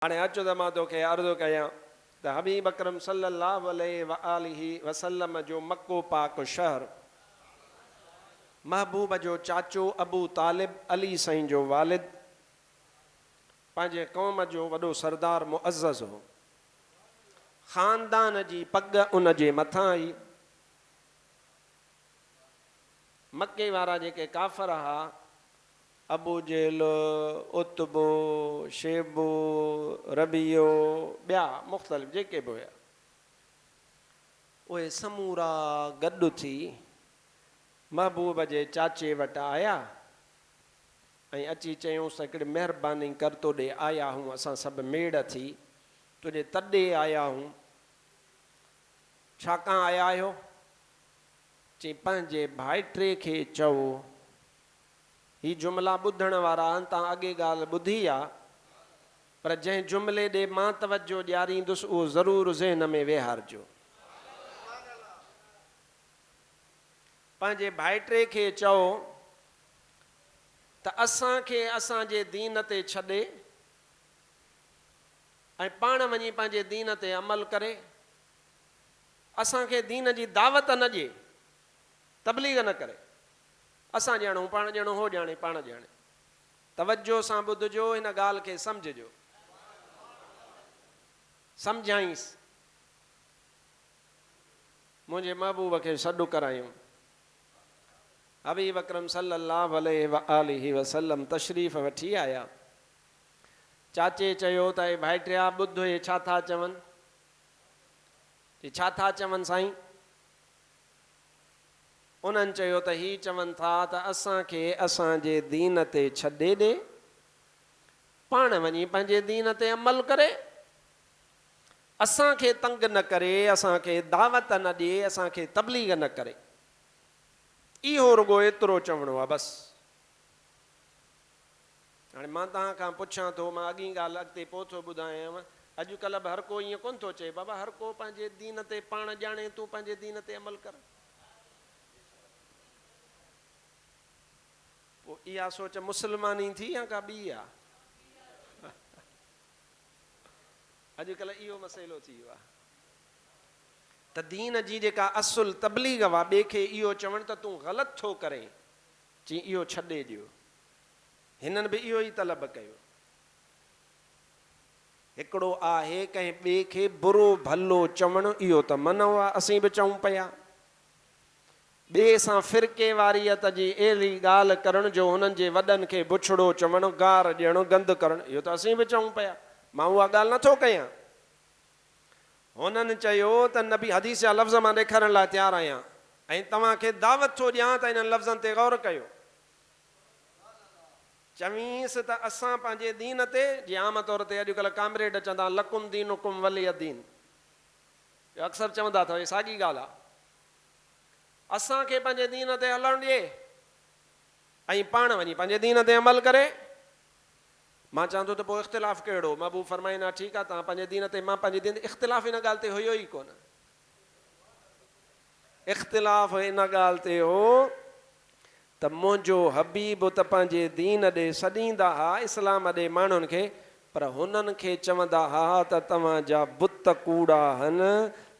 هاڻي اچ ته مان توکي عرض ڪيان ته حبيب اڪرم صلّي اللّٰه عليه واٰله وسلّم جو مڪو پاڪ شهر، محبوب جو چاچو ابو طالب، علي سائين جو والد، پنهنجي قوم جو وڏو سردار معزّز هو. خاندان جي پڳ ان جي مٿان هئي. مڪي وارا جيڪي ڪافر ها، ابوجهل، عتبو، شيبو، ربيعو، ٻيا مختلف جيڪي به هيا، اهي سمورا گڏ ٿي محبوب جي چاچي وٽ آيا ۽ اچي چيائونس ته هڪڙي مهرباني ڪر تو ڏي آيا آهيون اسان سڀ ميڙ ٿي تنهنجي تڏي آيا آهيون، ڇا ڪان آيا آهيو؟ چيائين پنهنجي ڀائٽي کي چئو هي جملا ٻڌڻ وارا تان اڳي ڳالهه ٻڌي آ پر جنهن جملي ڏي مان توجهه ڏياريندس اهو ضرور ذهن ۾ ويهارجو. پنهنجي ڀائٽي کي چئو ته اسان کي اسان جي دين تي ڇڏي ۽ پاڻ وڃي پنهنجي دين تي عمل ڪري اسان کي دين جي دعوت نه ڏي تبليغ نه ڪري. اسان ڄڻ هو پاڻ ڄڻ هو ڄاڻي پاڻ ڄاڻي. توجهه سان ٻڌجو هن ڳالهه کي سمجهجو. سمجهائينس. منهنجي محبوب کي سڏ ڪرايم. حبيب اڪرم صلي الله عليه وآله وسلم تشريف وٺي آيا. چاچي چيو ته اي ڀائٽيا ٻڌ اهي ڇا ٿا چون. چي ڇا ٿا چون سائين. انهن چيو ته هي چون ٿا ته اسان کي اسان جي دين تي ڇڏي ڏي، پاڻ وڃي پنهنجي دين تي عمل ڪري، اسان کي تنگ نه ڪري، اسان کي دعوت نه ڏي، اسان کي تبليغ نه ڪري. اهو رڳو ايترو چوڻو آهي بس. هاڻي مان توهان کان پڇان ٿو، مان اڳين ڳالهه اڳتي پوء ٿو ٻڌايانء، اڄ ڪلهه به هر ڪو ائين ڪونه ٿو چئي، بابا هر ڪو پنهنجي دين تي پاڻ ڄاڻي، تون پنهنجي دين تي عمل ڪر. پوء اها سوچ مسلماني ٿي يا ڪا ٻي آ؟ اڄ ڪلهه اهو مسئلو ٿي ويو آ. ته دين جي جيڪا اصل تبليغ هئا، ٻئي کي اهو چوڻ ته تون غلط ٿو ڪرين، چيائين اهو ڇڏي ڏيو. هنن به اهو ئي طلب ڪيو. هڪڙو آهي ڪنهن ٻئي کي برو ڀلو چوڻ اهو ته منع آ اسين به چئون پيا. ٻئي سان فرقي واريت جي اهڙي ڳالهه ڪرڻ جو هنن جي وڏن کي بڇڙو چوڻ، گار ڏيڻ، گند ڪرڻ اهو ته اسين به چئون پيا. مان اها ڳالهه نٿو ڪيان. هنن چيو ته نبي حديث جا لفظ مان ڏيکارڻ لاء تيار آهيان ۽ توهان کي دعوت ٿو ڏيان ته انهن لفظن تي غور ڪيو. چويس ته اسان پنهنجي دين تي، جي عام طور تي اڄڪلهه ڪامريڊ چوندا آهن لڪم دينڪم ولي دين جو اڪثر چوندا اٿو هي ساڳي ڳالهه آهي. اسان کي پنهنجي دين تي هلڻ ڏي ۽ پاڻ وڃي پنهنجي دين تي عمل ڪري. مان چوان ٿو ته پوء اختلاف ڪهڙو؟ محبوب فرمائين ها ٺيڪ آهي توهان پنهنجي دين تي مان پنهنجي دين اختلاف ان ڳالهه تي هيو ئي ڪونه. اختلاف ان ڳالهه تي هو ته منهنجو حبيب ته پنهنجي دين ڏي سڏيندا ها اسلام ڏي ماڻهن کي پر هنن کي چوندا ها ته توهان جا بت ڪوڙا هن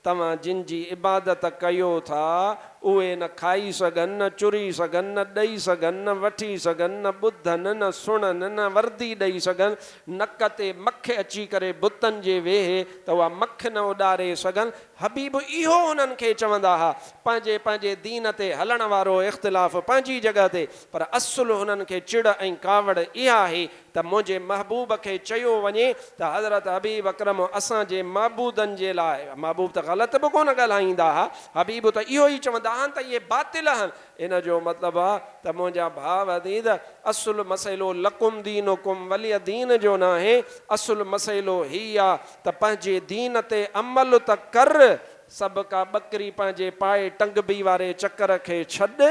توهان جن جي عبادت ڪيو ٿا، اهي نه کائي سگهن، نه چري سگهن، نه ڏئي سگهن، نه وٺي سگهن، نه ٻڌن، نه سڻن، نه وردي ڏئي سگهن، نڪ تي مک اچي ڪري بتن جي ويهي ته اها مک نه اڏاري سگهن، حبيب اهو هنن کي چوندا ها، پنهنجي پنهنجي دين تي هلڻ وارو اختلاف پنهنجي جڳهه تي، پر اصل هنن کي چڙ ۽ ڪاوڙ اها آهي ته منهنجي محبوب کي چيو وڃي ته حضرت حبيب اڪرم اسان جي معبودن جي لاء، محبوب ته غلط به ڪونه ڳالهائيندا ها، حبيب ته اهو ئي چوندا هن ته اهي باطل هن، ان جو مطلب آهي ته منهنجا ڀاء عزيز اصل مسئلو لڪم دينڪم ولي دين جو ناهي، اصل مسئلو هي آهي ته پنهنجي دين تي عمل ته ڪر سڀ ڪا ٻڪري پنهنجي پائي ٽنگبي واري چڪر کي ڇڏ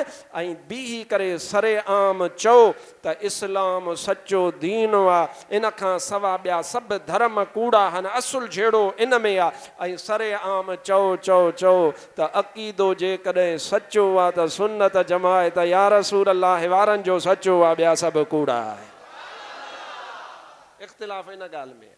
۽ بيهي ڪري سري عام چئو ته اسلام سچو دين آ ان کان سوا ٻيا سڀ ڌرم ڪوڙا هن اصل جهيڙو ان ۾ آ ۽ سري عام چئو چئو چئو ته عقيدو جيڪڏهن سچو آ ته سنت جماعت يا رسول الله وارن جو سچو آ ٻيا سڀ ڪوڙا آهن اختلاف ان ڳالهه ۾ آ.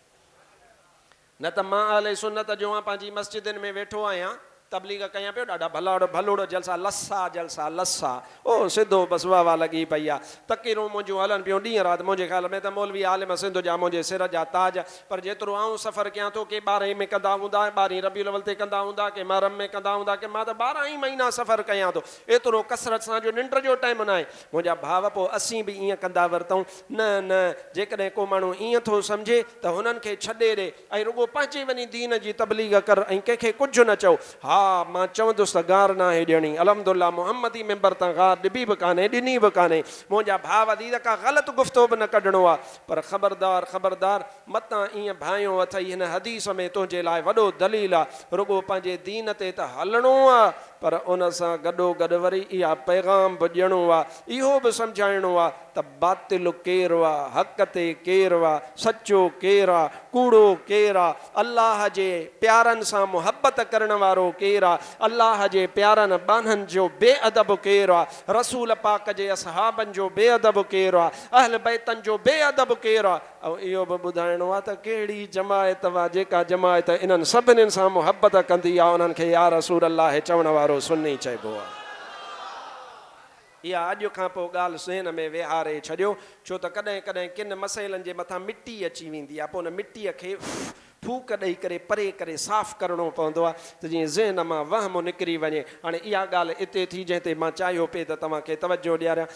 نه ته مان اهل سنت جو آن پنهنجي مسجدن ۾ ويٺو آهيان تبليغ ڪيان پيو ڏاڍا ڀلڙ ڀلڙ جلسا لسا جلسا لسا او سڌو بس واهه واهه لڳي پئي آ تقريرون منهنجون هلن پيون ڏينهن رات منهنجي خيال ۾ ته مولوي عالم سنڌ جا منهنجي سر جا تاج پر جيترو آئون سفر ڪيان ٿو ڪي ٻارهين ۾ ڪندا هوندا ٻارهين ربيع الاول تي ڪندا هوندا ڪي محرم ۾ ڪندا هوندا ڪي مان ته ٻارهن ئي مهينا سفر ڪيان ٿو ايترو ڪثرت سان جو ننڊ جو ٽائيم ناهي منهنجا ڀاء پو اسين به ائين ڪندا ورتئون نه نه جيڪڏهن ڪو ماڻهو ائين ٿو سمجهي ته هنن کي ڇڏي ڏي ۽ رڳو پنهنجي وڃي دين جي تبليغ ڪر ۽ ڪنهن کي ڪجهه نه چئو. ها مان چوندس ته گار ناهي ڏيڻي الحمدالله محمدي ممبر تان گار ڏبي به ڪانهي ڏني به ڪانهي منهنجا ڀاء عزيز ڪا غلط گفتو به نه ڪڍڻو آ پر خبردار خبردار متان ائين ڀانئيو اٿئي هن حديث ۾ تنهنجي لاء وڏو دليل آ رڳو پنهنجي دين تي ته هلڻو آ پر ان سان گڏوگڏ وري اها پيغام به ڏيڻو آ اهو به سمجهائڻو آ ته باطل ڪير آ، حق تي ڪير آ، سچو ڪير آ، ڪوڙو ڪير آ، الله جي پيارن سان محبت ڪرڻ وارو ڪير آ، الله جي پيارن ٻانهن جو بي ادب ڪير آ، رسول پاڪ جي اصحابن جو بي ادب ڪير آ، اهل بيتن جو بي ادب ڪير آ، ۽ اهو به ٻڌائڻو آ ته ڪهڙي جماعت آ، جيڪا جماعت انهن سڀني سان محبت ڪندي آ، انهن کي يا رسول الله چوڻ وارو سني چئبو آ. اها اڄ کان پوء ڳالهه سنهن ۾ ويهاري ڇڏيو، ڇو ته ڪڏهن ڪڏهن ڪن مسئلن جي مٿان مٽي اچي ويندي آهي، پوء ان مٽيء کي ڦوڪ ڏئي ڪري پري ڪري صاف ڪرڻو پوندو آهي ته جيئن ذهن مان وهم نڪري وڃي. هاڻي اها ڳالهه اتي ٿي جنهن تي مان چاهيو پئي ته توهان کي توجهه ڏياريان.